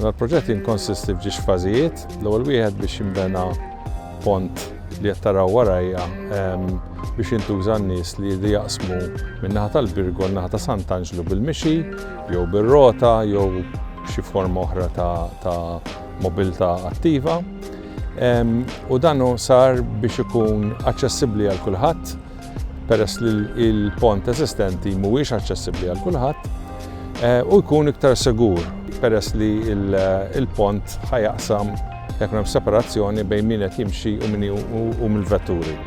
Dan il-proġett jinkonsisti f'ġiex fażijiet, l-ewwel wieħed biex jinbena pont li qed taraw warajja ehm, biex jintuża n-nies li jridu jaqsmu min-naħa tal-Birgo naħa ta' Sant'Anġlu bil-mixi jew bir-rota jew xi forma oħra ta' mobilità attiva. u dan sar biex ikun aċċessibbli għal kulħadd peress li l-pont eżistenti mhuwiex aċċessibbli għal kulħadd eh, u jkun iktar segur peress li l-pont ħajaqsam jekk hemm separazzjoni bejn min qed jimxi u min u mill-vetturi.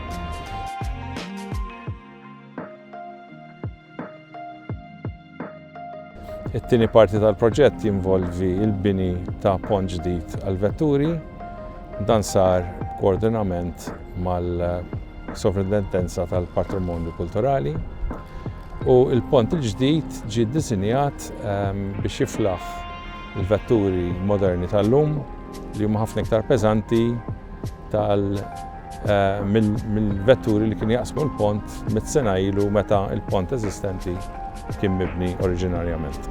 It-tieni parti tal-proġett jinvolvi l-bini ta' pont ġdid għall-vetturi. Dan sar b'koordinament mal-Sovrintendenza tal-Patrimonju Kulturali u l-pont il-ġdid ġie ddisinjat ehm, biex jiflaħ il-vetturi moderni tal-lum li huma ħafna iktar peżanti tal mill-vetturi li kienu jaqsmu l-pont mitt sena ilu meta l-pont eżistenti kien mibni oriġinarjament.